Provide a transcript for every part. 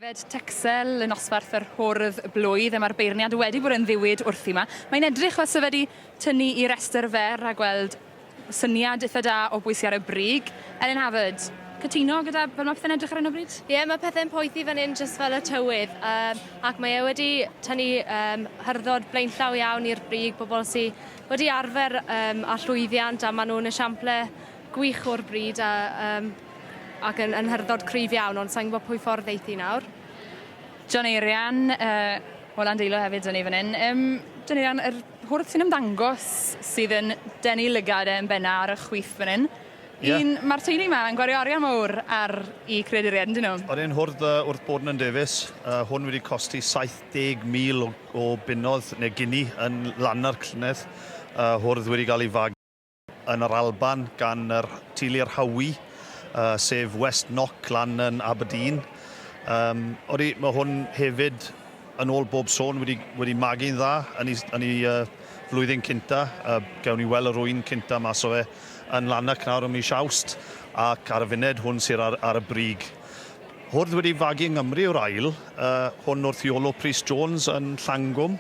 Yfed Texel yn osbarth yr hwrdd blwydd, mae'r beirniad wedi bod yn ddiwyd wrthi yma. Mae'n edrych fel sydd wedi tynnu i restr fer a gweld syniad eitha da o bwy sydd ar y brig. Elin Havard, cytuno gyda fel mae pethau'n edrych ar hyn o bryd? Ie, yeah, mae pethau'n poethi fan hyn jyst fel y tywydd, um, ac mae e wedi tynnu um, hyrddodd blaenllaw iawn i'r brig, bobl sy'n wedi arfer um, a llwyddiant a maen nhw'n esiample gwych o'r bryd a, um, ac yn, yn hyrddod cryf iawn ond sa'n gwybod pwy ffordd eithi nawr. John Eirian, uh, wel a'n deilo hefyd yn ei fan hyn. Um, John Eirian, yr hwrth sy'n ymddangos sydd yn denu lygad e yn benna ar y chwith fan hyn. Ie. Un, ma'r teulu 'ma yn gwario arian mowr ar 'u creaduriaid yndyn nhw? O'n i'n hwrdd yy wrth bod yn Nant Davies, yy hwn wedi costi 70,000 o o bunnodd ne' guinea yn Lanna'r llynedd, yy hwrdd wedi ga'l 'i fagu yn yr Alban gan yr teulu yr Howie, yy sef West Knock lan yn Aberdeen. Yym odi ma' hwn hefyd Yn ôl bob sôn wedi wedi magu'n dda yn ei yn ei uh, flwyddyn cynta. Uh, gewn ni weld yr rwy'n cynta mas o fe yn Lanark nawr ym mis Awst ac ar y funed hwn sy'n ar, ar y brig. Hwrdd wedi fagu yng Nghymru yw'r ail, uh, hwn wrth Iolo Prys Jones yn Llangwm,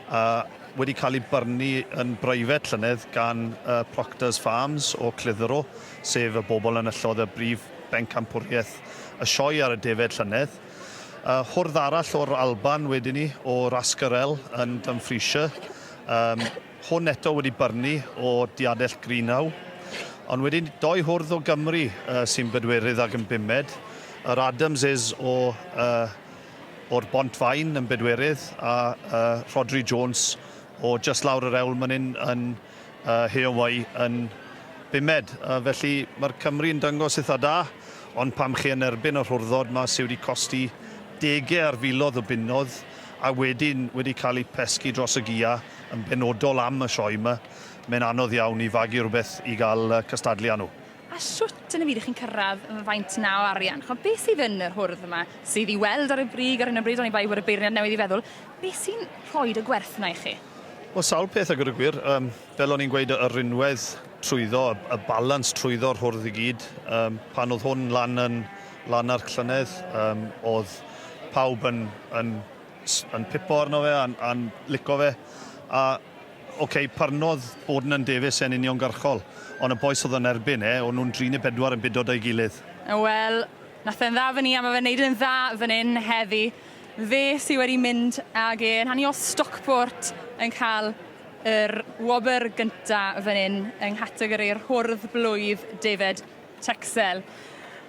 uh, wedi cael ei byrnu yn breifet llynedd gan uh, Proctors Farms o Clitheroe, sef y bobl yn yllodd y brif bencampwriaeth y sioe ar y defaid llynedd. Yy hwrdd arall o'r Alban wedyn ni o Rascarel yn Dumfriesshire. Yym hwn eto wedi byrnu o diadell Greenhow. Ond wedyn doi hwrdd o Gymru yy sy'n bedwerydd ag yn bumed. Yr Adamses o yy o'r Bont Faen yn bedwerydd a yy Rhodri Jones o jyst lawr yr Ewl myn 'yn yn a Heowei yn bumed. A felly mae'r Cymry yn dangos itha da, ond pam chi yn erbyn y rhurddod ma sy wedi costi dege ar filodd o bunnodd a wedyn wedi cael eu pesgi dros y gia yn benodol am y sioe ma, mae'n anodd iawn i fagu rhywbeth i gael cystadlu â nhw. A shwt yn y byd y'ch chi'n cyrradd yy faint 'na o arian? Ch'mo' beth sydd yn yr hwrdd yma sydd i weld ar y brig ar hyn o bryd oni bai bod y beirniad newydd i feddwl beth sy'n rhoid y gwerth 'na i chi? Wel sawl peth a gwed y gwir yym fel o'n i'n gweud y y rinwedd trwyddo y y balans trwyddo'r hwrdd i gyd yym pan o'dd hwn lan yn lan ar llynedd yym o'dd pawb yn yn s- yn pipo arno fe a'n a'n lico fe a Ok, parnodd bod Nan Davies e'n uniongyrchol, ond y bois oedd yn erbyn e, o'n nhw'n dri neu bedwar yn bido 'da'i gilydd. Wel, nath e'n dda fynny a ma' fe'n neud yn dda fyn 'yn heddi. Fe sy wedi mynd ag e yn hanu o Stockport yn ca'l yr wobr gynta fyn 'yn yng nghategori'r hwrdd blwydd, David Tuxell.